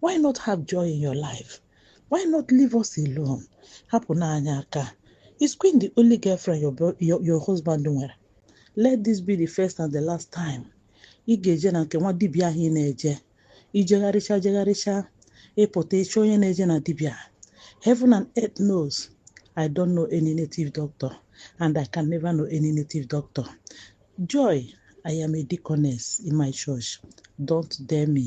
why not have joy in your life why not leave us alone hapụnụ anyị aka is queen the only girlfriend your, your, your husband nwere let this be the first and the last time ị ga-eje na nke nwa dibịa ahụ ị na-eje i jegharịcha jegharịcha ị pụta ị chọ onye na-eje na dibịa heaven and earth knows i don't know any native doctor and i can never know any native doctor joy i am a deaconess in my church don't dare me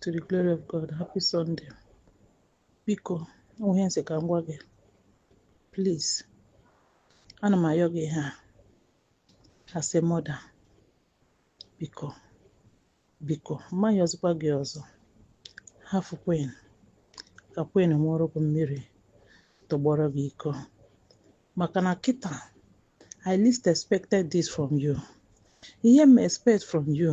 to the glory of God happy Sunday biko o nwe ihe m sị ka m gwa gị please ana m ayọ gị ihe a as a mother biko biko m ma-ayọzikwa gị ọzọ hafụ Queen ka Queen ṅụọrọ gị mmiri tọgbọrọ gị iko maka na kịta I least expected this from you ihe m expect from you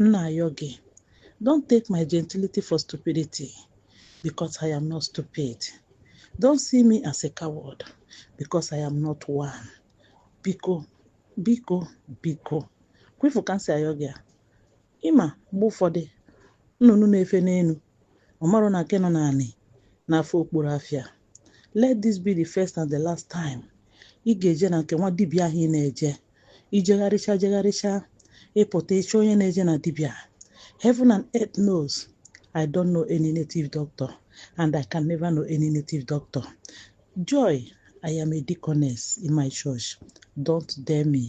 M na-ayọ gị, don't take my gentility for stupidity because I am not stupid. Don't see me as a coward because I am not one. Biko, biko, biko. Kwa ị fụ ka m si ayọ gị a. Ị ma mgbe ụfọdụ nnụnụ na-efe n'elu ọ marọ na nke nọ n'anị na-afụ okpuru afọ ya. let this be the first and the last time ị ga-eje na nke nwa dibịa ahụ ị na-eje i jegharịcha jegharịcha ị pụta ị chọ onye na-eje na dibịa heaven and earth knows i don't know any native doctor and i can never know any native doctor joy i am a deaconess in my church don't dare me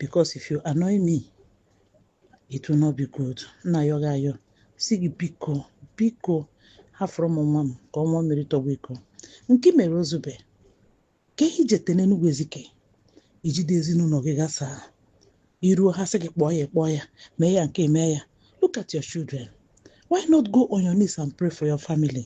because if you annoy me it will not be good m na-ayọ gị ayọ sị gị biko biko hafụrụ m nwa m ka ọ ṅụa mmiri tọgbọ iko nke i mere o zube ke ihe i jete n'enugwu ezike i jide ezinụlọ gị gasaa i ruo ha sị gị kpọọ ya kpọọ ya mee ya nke mee ya look at your children why not go on your knees and pray for your family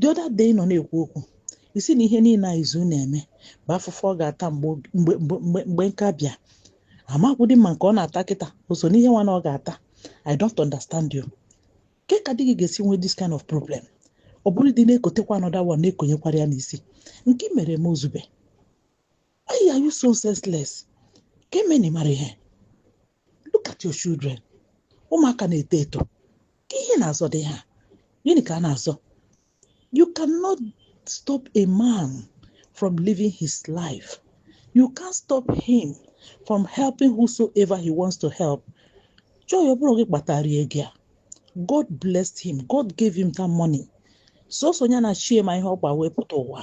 the other day ị nọ na-ekwu okwu ị sị na ihe niile a izu na-eme bụ afụfụ ọ ga-ata mgbe oge- mgbe mgbe mgbe mgbe nka bịa amakwụdị m ma nke ọ na-ata kịta o so n'ihe nwa na ọ ga-ata i don't understand you ke ka di gị ga-esi nwee this kind of problem ọ bụrụ dị na-ekotekwa another one na-ekonyekwara ya n'isi nke i mere m o zube Why are you so senseless? Ke ihe mere na ị marọ ihe. Look at your children. Ụmụaka na-eto eto. Ke ihe a na-azọ dị ha. Gịnị ka a na-azọ? You cannot stop a man from living his life. You can't stop him from helping whosoever he wants to help. Joy ọ bụrọ gị kpatara ego ya. God blessed him. God gave him that money. Sọsọ ya na chi ya ma ihe ọ kpa wee pụta ụwa.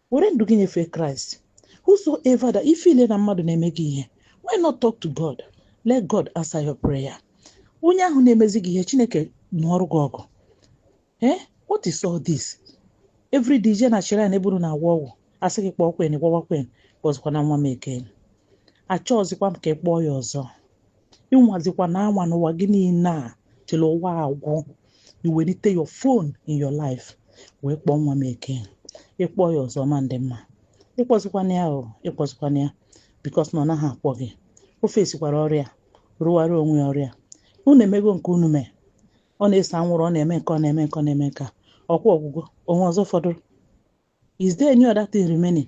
were ndụ gị nyefee christ whosoever that ị feel na mmadụ na-eme gị ihe why not talk to god let god answer your prayer onye ahụ na-emezi gị ihe chineke nụọrụ gị ọgụ ee eh? what is all this every day je na shrine eburu na-agwọ ọgwụ asị gị kpọọ queen gwawa queen kpọzikwana nwa m eke achọọzikwa m ka ị kpọọ ya ọzọ ịnwazikwana anwa n'ụwa gị niile till ụwa agwụ iwelite your phone in your life wee kpọọ nwa m eke ịkpọ ya ọzọ ma ndị mma ịkpọzikwana ya o ịkpọzikwana ya because na ọ naghị akpọ gị ọ facekwara ọrụ ya rụwara onwe ya ọrụ ya unu emego nke unu mee ọ na-ese anwụrụ ọ na-eme nke ọ na-eme nke ọ na-eme nke a ọkwa ọ gwụgo o nwe ọzọ fọdụrụ is there any other thing remaining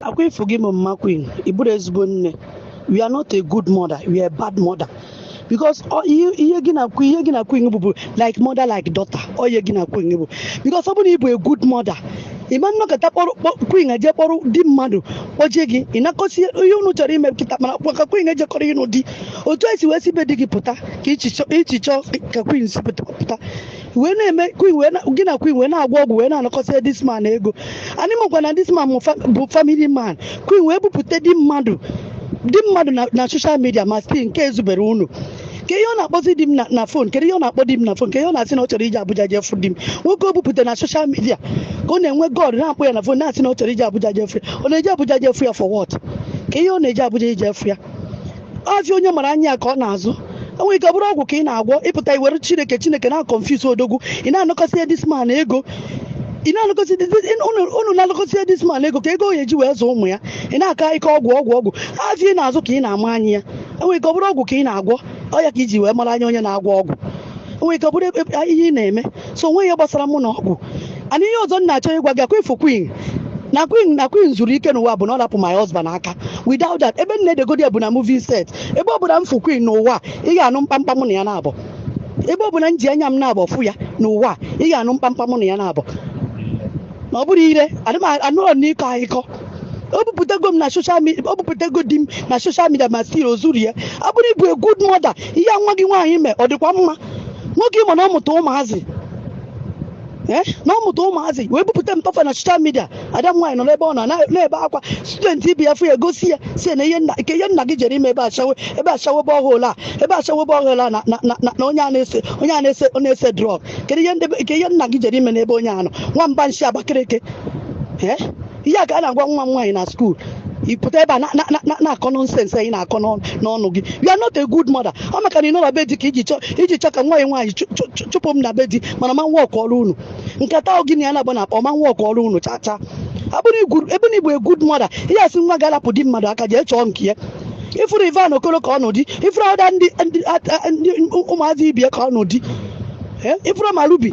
akwa ifu gị mama queen ị bụrọ ezigbo nne you are not a good mother you are a bad mother because ọ- ihe ihe gị na queen ihe gị na queen bụ bụ like mother like daughter ọ ihe gị na queen bụ because ọ bụrụ na ị bụ a good mother ị ma nọkata kpọrọ kpọ- queen eje kpọrọ di mmadụ kpọjie gị ị nakọsi ihe unu chọrọ ime kịta mana kwa ka queen ejekọrọ ịnụ di otu i si wee si be di gị pụta ka i si chọ- i si chọọ ka queen si pụta pụta wee na-eme queen wee na- gị na queen wee na-agwọ ọgwụ wee na-anakọsị this man ego anyị makwa na this man bụ fa- bụ family man queen wee bupụta di mmadụ di mmadụ na- na social media ma still nke ezubere unu kee ihe ọ na-akpọzi di m na- na phone kedu ihe ọ na-akpọ di m na phone kee ihe ọ na-asị na ọ chọrọ ije abuja jee fụ di m nwoke o bupụta na social media ka ọ na-enwe god na-akpọ ya na phone na-asị na ọ chọrọ ije abuja jee fụ ya ọ na-eje abuja jee fụ ya for what kee ihe ọ na-eje abuja ije fụ ya afịa onye mara anya ya ka ọ na-azụ enwere ike ọ bụrụ ọgwụ ka ị na-agwọ ịpụta iwere chineke chineke na confuse odogwu ị na-anakọsị this man ego ị na-anakọsị unu na-anakọsị this man ego kee ego ọ ya-eji wee zụọ ụmụ ya ị na-aka ike ọgwụ ọgwụ ọgwụ afịa ị na-azụ ka ị na-ama anya ya enwere ike ọ bụrụ ọgwụ ka ị na-agwọ ọ ya ka iji wee mara anya onye na-agwọ ọgwụ enwere ike ọ bụrụ ihe ị na-eme so onwe ihe gbasara mụ na ọgwụ ana ihe ọzọ m na-achọ ịgwa gị akwa ifu queen na queen na queen zuru ike n'ụwa bụ na ọ lapụ my husband aka without that ebe m na-edegodi ya bụ na movie set ebe ọ bụla m fụ queen n'ụwa ị ga-anụ mkpamkpa mụ na ya naabọ ebe ọ bụla m ji anya m naabọ fụ ya n'ụwa ị ga-anụ mkpamkpa mụ na ya naabọ na ọ bụrụ ire adị m anọrọ m n'ịkọ akụkọ o bupụtago m na social media o bupụtago di m na social media ma still o zurọ ya ọ bụrụ ịbụ a good mother ihe nwa gị nwaanyị mee ọ dịkwa mma nwoke ịma na ọ mụta ụmụazị ee na ọ mụta ụmụazị wee bupụta mpa fa na social media ada m nwaanyị nọ n'ebe ọ nọ na- na-ebe akwa student ibe ya fụ ya gosi ya sị ya na ihe nna nke ihe nna gị jere ime ebe ashawo ebe ashawo borehole a ebe ashawo borehole a na na- na- na- na onye a na-ese onye a na-ese ọ na-ese drug kedu ihe ndị- nke ihe nna gị jere ime n'ebe onye a nọ nwamba nshi abakaliki ee ihe a ka a na-agwa nwa m nwaanyị na skuul ị pụta ebe a na- na- na- na-akọ nonsense ahụ ị na-akọ n'ọnụ n'ọnụ gị you are not a good mother ọ maka na ị nọ na be di ka i ji chọọ i ji chọọ ka nwa ya nwaanyị chụ- chụ- chụ- chụpụ m na be di mana ma nwa ọkụ ọrụ unu nkata ahụ gị na ya na-agba na-akpa ọ ma nwa ọkụ ọrụ unu chaa chaa ọ bụrụ ị bụ- ebe na ị bụ a good mother ị ya-asị nwa gị rapụ di mmadụ aka jee chọọ nke ya ị fụrụ evan okoro ka ọ nụ di ị fụrụ other ndị ndị- ndị- ụmụazị ibe ya ka ọ nụ di Eh, ị fụrụ ma ruby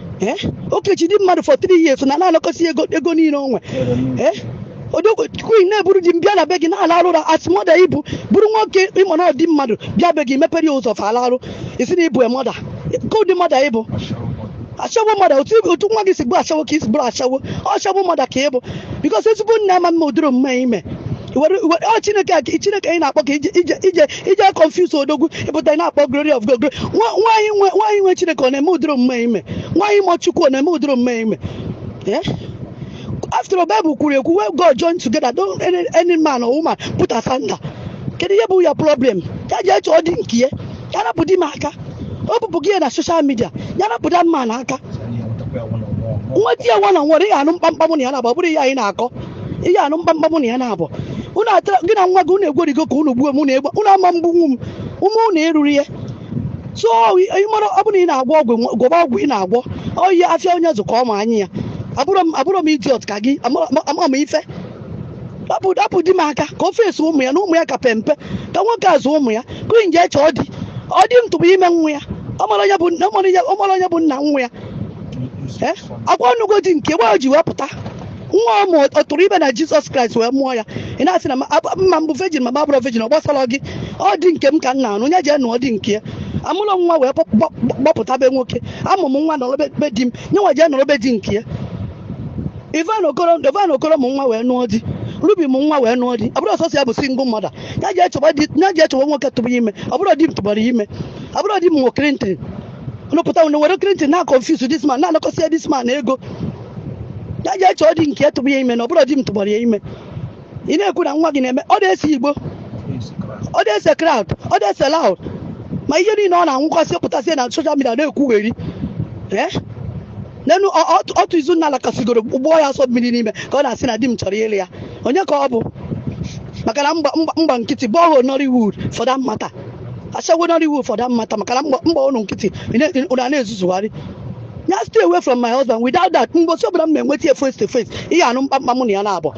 ee o kechi di mmadụ for three years na na-anakọsị ego ego niile o nwe ee odogwu queen na-eburu di m bịa na be gị na-alarụ ụra as mother ị bụ buru nwoke ị ma na ọ di mmadụ bịa be gị mepere ya ụzọ fa alarụ ị sị na ị bụ mother kee ụdị mother ị bụ ashawo mother otu otu nwa gị si bụ ashawo ka i si bụrụ ashawo ashawo mother ka ị bụ because ezigbo nne ama eme ụdịrị omume a ị me were were ọ chineke a ka- chineke ahụ ị na-akpọ ka i ji i ji i ji i ji confuse odogwu ị pụta ị na-akpọ glory of god glory. Nwa- nwaanyị nwe nwaanyị nwe chineke ọ na-eme ụdịrị omume ị me nwaanyị ma chukwu ọ na-eme ụdịrị omume ị me Eh? after all bible kwuru ekwu what god join together don't any, any man or woman put asunder kedu ihe bụ ya problem ya jee chọọ di nke ya ya rapụ di m aka o bupụ gị ya na social media ya rapụ di m aka na aka nwa di ya nwa na nwa ọ dịghị anụ mkpamkpam na ya na ọ bụrụ ihe anyị na-akọ ihe anụ mkpamkpa mụ na ya na-abụ unu atara gị na nwa gị unu egwerigo ka unu gbuo m unu egbe unu ama egbunwu m ume unu erurọ ya so ị mara ọ bụrụ na ị na-agwọ ọgwụ nwa- gwọba ọgwụ ị na-agwọ oyi afịa onye zụkọ ọma anyị ya abụrọ m abụrọ m idiot ka gị ama ama m ife rapụ rapụ di m aka ka o face ụmụ ya na ụmụ ya ka pe mpe ka nwoke azụ ụmụ ya queen jee chọọ di ọ di m tụbụ ime nwa ya ọ mara onye bụ nna- ọ mara onye- ọ mara onye bụ nna nwa ya Eh? ọkwa ọ nụgo di nke gba o ji wee pụta nwa ọ mụ ọ tụrụ ime na jizọs kraịst wee mụọ ya ị na-asị na ma ab- ma m bụ virgin ma m abụrọ virgin ọ gbasarọ gị ọ di nke m ka m na-anụ onye jee nụọ di nke ya amụrọ m nwa wee gbọ- gbọ- gbapụta be nwoke amụ m nwa nọrọ be- be di m ya nwa jee nọrọ be di nke ya evan okoro evan okoro mụ nwa wee nụọ di ruby mụ nwa wee nụọ di ọ bụrọ sọọsọ ya bụ single mother ya jee chọba di ya jee chọba nwoke tụbụ ya ime ọ bụrọ di m tụbara ya ime ọ bụrọ di m nwe clinton mụpụta were clinton na-aconfuse this man na-anakọsịa this man ego ya jee chọọ di nke tụbụ ya ime na ọ bụrọ di m tụbara ya ime ị na-ekwu na nwa gị na-eme ọ na-ese igbo ọ na-ese crowd ọ na-ese loud ma ihe niile ọ na-anwụkwasị pụtasị na social media na-ekwugheri ee nenụ ọ- ọ- otu izu nna lakasigoro gbụọ ya asọ mmiri n'ime ka ọ na-asị na di m chọrọ ịlụ ya onye ka ọ bụ maka na m gba m gba- m gba nkịtị bọọlụ nollywood for that matter ashawo nollywood for that matter maka na m gba m gba unu nkịtị ị na- ị na- ị na-ezuzugharị ya stay away from my husband without that mgbosi ọbụla m na-enweta ya face to face ihe anụ mkpamkpa mụ na ya na-abụ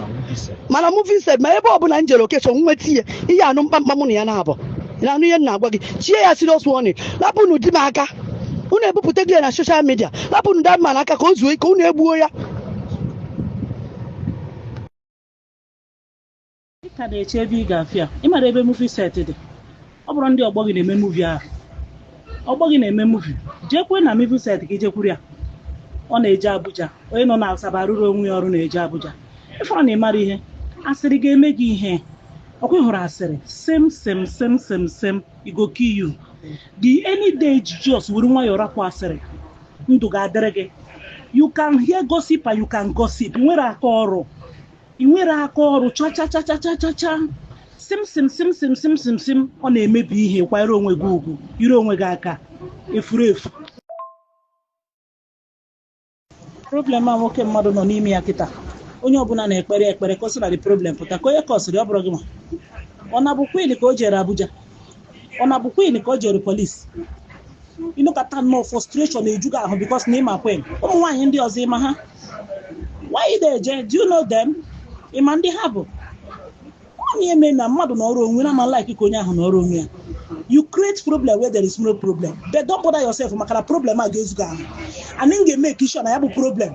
ma na movie set ma ebe ọbụla m jere occasion nweta ihe ihe anụ mkpamkpa mụ na ya na-abụ ị na-anụ ihe m na-agwa gị chie ya serious warning rapụnụ di m aka unu ebupụtago ya na social media rapụnụ that man aka ka o zuo ike unu egbuo ya ị ka na-eche ebe ị ga-afịa ị mara ebe movie set dị ọ bụrụ ndị ọgbọ gị na-eme movie ahụ ọgbọ gị na-eme movie jekwa na movie set gị jekwuru ya ọ na-eje abuja onye nọ na asaba arụrụ onwe ya ọrụ na-eje abuja ị fụrọ na ị mara ihe asịrị ga-eme gị ihe ọkwa ị hụrụ asịrị sem sem sem sem sem e go kill you the any day just were nwayọọ rapụ asịrị ndụ ga-adịrị gị you can hear gossip and you can gossip ị nwere aka ọrụ ị nwere aka ọrụ chachachachachacha sim sim sim sim sim sim sim ọ na-emebi ihe kwanyere onwe gị ugwu jide onwe gị aka efuru efu problem a nwoke mmadụ nọ n'ime ya kịta onye ọbụla na-ekpere ekpere ka o si na the problem pụta ka onye kọ asịrị ọ bụrụ gị ma ọ na-abụ queen ka o jere abuja ọ na-abụ queen ka o jere police ị nọkata nnọọ frustration eju gị ahụ because na ị ma queen ụmụ nwaanyị ndị ọzọ ị ma ha why they eje do you know them ị ma ndị ha bụ onye eme na mmadụ nọrọ onwe na ma like ka onye ahụ nọrọ onwe ya you create problem where there is no problem but don't bother yourself maka na problem a ga-ezu gị ahụ and m ga-eme sure na ya bụ problem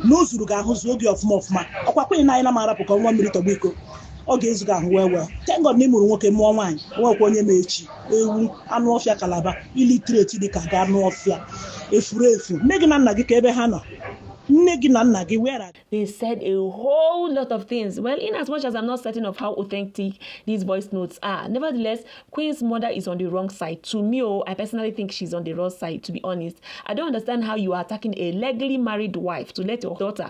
na o zuru gị ahụ zuo gị ọfụma ọfụma ọkwa queen na anyị na m arapụ ka nwa mmiri tọgbu iko ọ ga-ezu gị ahụ well well thank God na ị mụrụ nwoke mụọ nwaanyị nwekwa onye ma echi ewu anụ ọfịa kalaba illiterate dị ka gị anụ ọfịa efuru efu nne gị na nna gị kee ebe ha nọ nne gị na nna gị where are They said a whole lot of things. Well, in as much as I'm not certain of how authentic these voice notes are, nevertheless, Queen's mother is on the wrong side. To me, oh, I personally think she's on the wrong side, to be honest. I don't understand how you are attacking a legally married wife to let your daughter